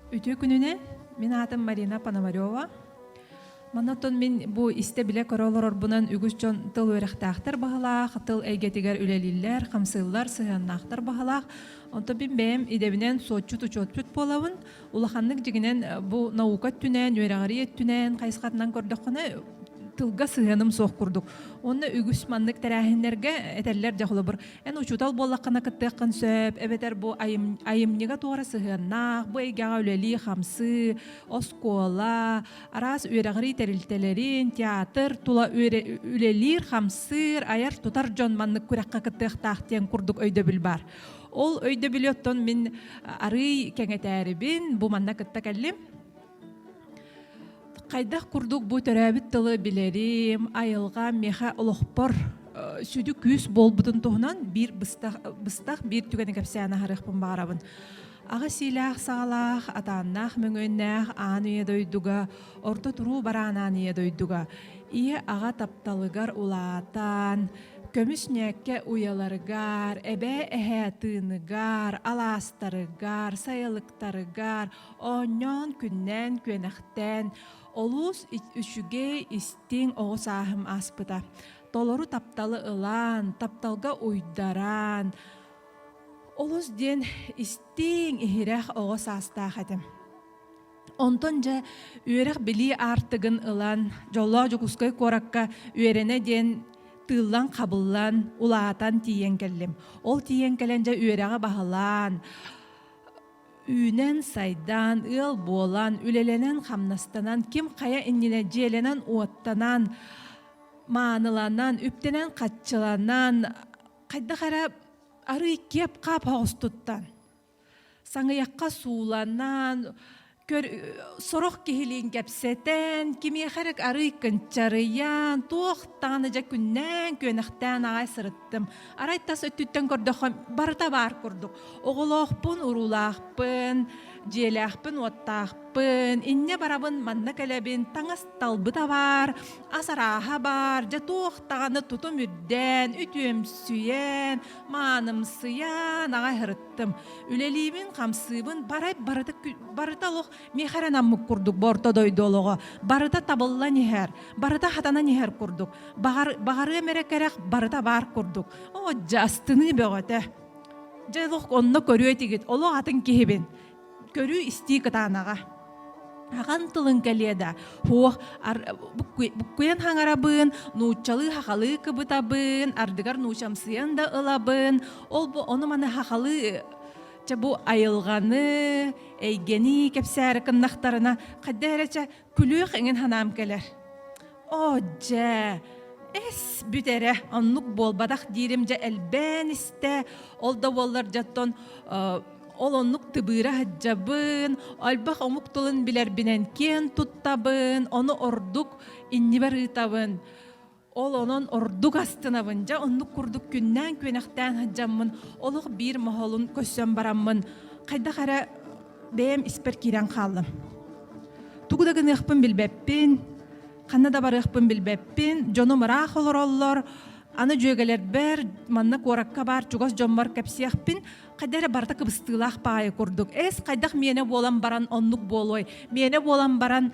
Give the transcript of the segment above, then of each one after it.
Үтүө күнүнэн, мин аатым Марина Пономарева. Манаттан мин бу истэ-билэ көрө олорорбунан үгүс дьон тыл үөрэхтээхтэр баһылаах, тыл эйгэтигэр үлэлииллэр, хамсыыллар, сыһыаннаахтар баһылаах. Онтон мин бэйэм идэбинэн суотчут-учуотпут буолабын. Улаханнык дьигинэн бу наука өттүнэн, үөрэҕэрий өттүнэн хайысхатынан көрдөххүнэ тылга сыһыаным суох курдук. Онно үгүс маннык тэрээһиннэргэ этэллэр дьэ холобур эн учуутал буоллаххына кыттыаххын сөп эбэтэр бу айым, айымньыга туора сыһыаннаах бу эйгэҕэ үлэлии хамсыы оскуола араас үөрэҕирии тэрилтэлэрин театр тула үлэлиир хамсыыр айар тутар дьон маннык күрэххэ кыттыахтаах диэн курдук өйдөбүл баар Ол өйдөбүлү оттон мин арыый кэҥэтээрибин, бу манна кытта кэллим. Хайдах курдук бу төрөөбүт тылы билэрим, айылҕа миэхэ олохпор сүдү күүс буолбутун туһунан биир быстах, быстах биир түгэни кэпсээн аһарыахпын баҕарабын. Аҕа сиилээх саҕалаах, атааннаах мөҥүөннээх аан үйэ дойдуга орто туруу бараанааныйа дойдуга ийэ-аҕа тапталыгар улаатан, көмүс ньээккэ уйаларыгар, эбээ-эһээ тыыныгар, алаастарыгар, сайылыктарыгар оонньоон, күннээн, күөнэхтээн олус үчүгэй, истиҥ оҕо сааһым ааспыта. Толору тапталы ылан, тапталга уйдаран, олус диэн истиҥ, иһирэх оҕо саастаах этим. Онтон дьэ үөрэх-билии аартыгын ылан, Дьоллоох Дьокуускай куоракка үөрэнэ диэн тыыллан-хабыллан, улаатан тиийэн кэллим. Ол тиийэн кэлэн дьэ үөрэҕи баһылаан, үүнэн-сайдан, ыал буолан, үлэлэнэн-хамнастанан, ким хайа иннинэ дьиэлэнэн-уоттанан, мааныланан, үптэнэн-хаччыланан, хайдах эрэ арыый киэп-хаап оҕус туттан, саҥыйахха сууланан көр сорох киһилиин кэпсэтэн кимиэхэ эрэ арыый кынчарыйан туохтаан дьэ күннээн күөнэхтээн аҕай сырыттым арай тас өттүттэн көрдөххө барыта баар курдук оҕолоохпун уруулаахпын дьиэлээхпин-уоттаахпын инньэ барабын манна кэлэбин таҥас талбыта баар ас арааһа баар дьэ туох даҕаны тутум үрдээн үтүөмсүйэн маанымсыйаан аҕай һырыттым үлэлиибин хамсыыбын барай барыта барыта олох миэхэ эрэ наммыт курдук бу орто дойду олоҕо барыта табыллан иһэр барыта хатанан иһэр курдук баҕар баҕарыам эрэ кэрэх барыта баар курдук оо дьэ астыныы бөҕөтө дьэ олох онно көрүө этигит олох атын киһибин көрүү-истии кытаанаҕа ахан тылын кэлиэ да һуох буккуйан хаҥарабын нууччалыы хахалыы кыбытабын ардыгар нуучамсыйан да ылабын ол бу ону маны хахалыы чэ бу айылҕаны эйгэни кэпсээри кыннахтарына хайда эрэ чэ күлүөх иҥин санаам кэлэр. Оо дьэ, эс бүтэрэ оннук буолбатах диирим дьэ элбээн истэ. Ол да буоллар дьоттон ол оннук тыбыыра сылдьабын, альбах омук тылын билэрбинэн киэн туттабын, ону ордук иннибэр ыытабын. Ол онон ордук астынабын. Дьэ, оннук курдук күннээн-күөнэхтээн сылдьаммын, олох биир моһолун көрсөн бараммын, хайдах эрэ бэйэм испэр киирэн хааллым. Тугу да гыныахпын билбэппин, ханна да барыахпын билбэппин, дьонум ыраах олороллор, аны дьүөгэлэрбэр, манна куоракка баар чугас дьоммор кэпсиэхпин, хайда эрэ барыта кыбыстыылаах паайы курдук. Эс, хайдах миэнэ буолан баран оннук буолуой? Миэнэ буолан баран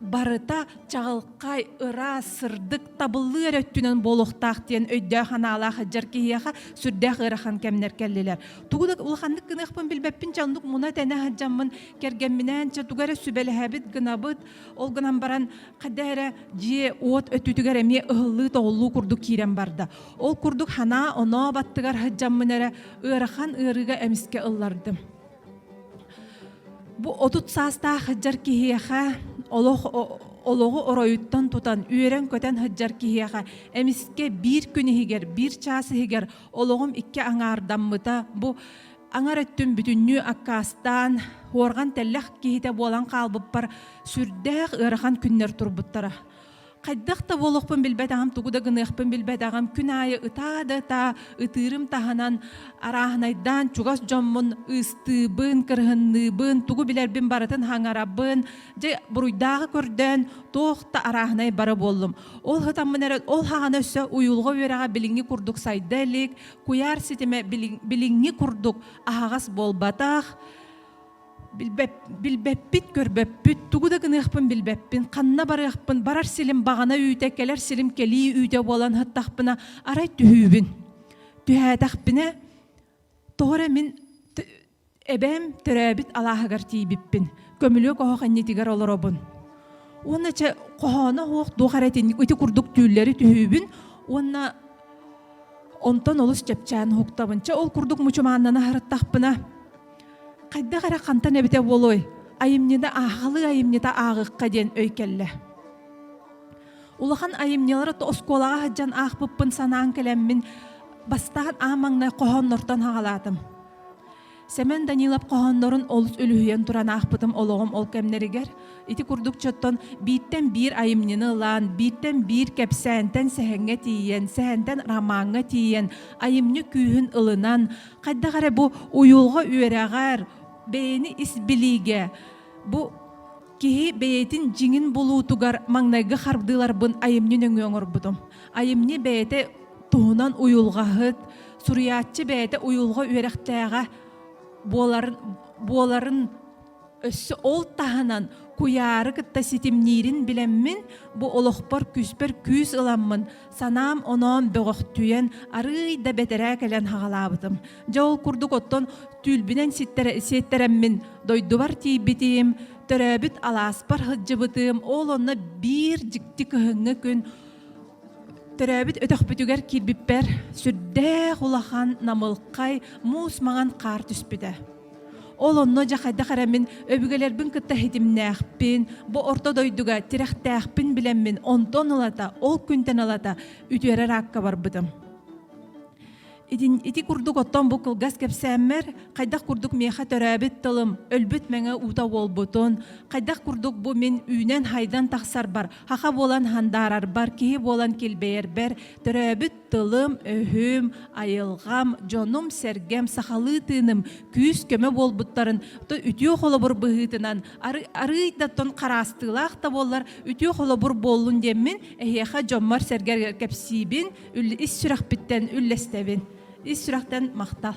барыта чаҕылхай, ыраас, сырдык, табыллыы эрэ өттүнэн буолуохтаах диэн өйдөөх-анаалаах эдьэр киһиэхэ сүрдээх ыарахан кэмнэр кэллилэр. Тугу да улаханнык гыныахпын билбэппин дьэ оннук муна тэнэ сылдьаммын кэргэмминээн чэ тугу эрэ сүбэлэһэбит гынабыт ол гынан баран хайда эрэ дьиэ-уот өттүтүгэр эмиэ ыһыллыы-тоҕуллуу курдук киирэн барда ол курдук санаа оноо баттыгар сылдьаммын эрэ ыарахан ыарыыга эмискэ ыллардым Бу отут саастаах сыдьар киһиэхэ олох олоҕу оройуттан тутан үөрэн-көтөн сыдьар киһиэхэ эмискэ биир күн иһигэр биир чаас иһигэр олоҕум икки аҥаардаммыта бу аҥар өттүм бүтүннүү аккаастаан уорган тэллэх киһитэ буолан хаалбыппар сүрдээх ыарахан күннэр турбуттара хайдах да буолуохпун билбэтэҕим, тугу да гыныахпын билбэтэҕим. Күн аайы ытаа да ытаа ытыырым таһынан арааһынайдаан чугас дьоммун ыыстыыбын, кырыһынныыбын, тугу билэрбин барытын хаҥарабын. Дьэ, буруйдааҕы көрдөөн туох да арааһынай бара буоллум. Ол сатаммын эрэ ол хаҕана өссө уйулҕа үөрэҕэ билиҥҥи курдук сайда илик, куйаар ситимэ билиҥ- билиҥҥи курдук аһаҕас буолбатах. билбэп, билбэппит, көрбөппүт, тугу да гыныахпын билбэппин, ханна барыахпын, барар силим баҕана үүтэ, кэлэр силим кэлии үүтэ буолан сыттахпына, арай түһүүбүн. Түһээтэхпинэ, тоҕо эрэ мин эбээм төрөөбүт алааһыгар тиийбиппин, көмүлүөк оһох иннитигэр олоробун. Уонна чэ, хоһооно оһох туох эрэ ити курдук түүллэри түһүүбүн уонна онтон олус чэпчээн уһуктабын. Чэ, ол курдук мучумааннана сырыттахпына, Хайдах эрэ хантан эбитэ буолуой, айымньыны ааҕалыы айымньыта ааҕыахха диэн өй кэллэ. Улахан айымньылары оскуолаҕа сылдьан аахпыппын санаан кэлэммин, бастаан аан маҥнай хоһооннортон хаҕалаатым. Семен Данилов хоһооннорун олус үлүһүйэн туран аахпытым олоҕум ол кэмнэригэр. Ити курдук чоттон бииртэн биир айымньыны ылаан, бииртэн биир кэпсээнтэн сэһэҥҥэ тиийэн, сэһэнтэн ромаҥҥа тиийэн, айымньы күүһүн ылынан, хайдах эрэ бу уйулҕа үөрэҕэр бэйэни ис билиигэ бу киһи бэйэтин дьиҥин булуутугар маҥнайгы хардыыларбын айымньы нөҥүө оҥорбутум айымньы бэйэтэ туһунан уйулҕаһыт суруйааччы бэйэтэ уйулҕа үөрэхтээҕэ буоларын буоларын Өссө ол таһынан куйаары кытта ситимниирин билэммин, бу олохпор күүспэр күүс ыламмын, санаам оноон бөҕөхтүйэн, арыый да бэтэрээ кэлэн хаҕалаабытым. Дьэ ол курдук оттон түүлбүнэн сиэттэрэммин дойдубар тиийбитим, төрөөбүт алааспар сылдьыбытым, ол онно биир дьикти кыһыҥҥы күн төрөөбүт өтөхпүтүгэр киирбиппэр сүрдээх улахан намылхай муус маҥан хаар түспүтэ. Ол онно дьэ хайдах эрэ мин өбүгэлэрбин кытта ситимнээхпин, бу орто дойдуга тирэхтээхпин билэммин онтон ылата, ол күнтэн ылата үтүөрэр аакка барбытым. Итин ити курдук оттон бу кылгас кэпсээммэр хайдах курдук миэхэ төрөөбүт тылым өлбүт мэҥэ уута буолбутун, хайдах курдук бу мин үүнэн-хайдан тахсарбар, хаха буолан хандаарарбар, киһи буолан килбэйэрбэр, төрөөбүт тылым-өһүм, айылҕам, дьонум-сэргэм, сахалыы тыыным күүс-көмө буолбуттарын то үтүө холобур быһыытынан арыый да тон хараастыылаах да буоллар үтүө холобур буоллун диэммин эһиэхэ дьоммор-сэргэргэр кэпсиибин ис сүрэхпиттэн үллэстэбин ис сүрэхтэн махтал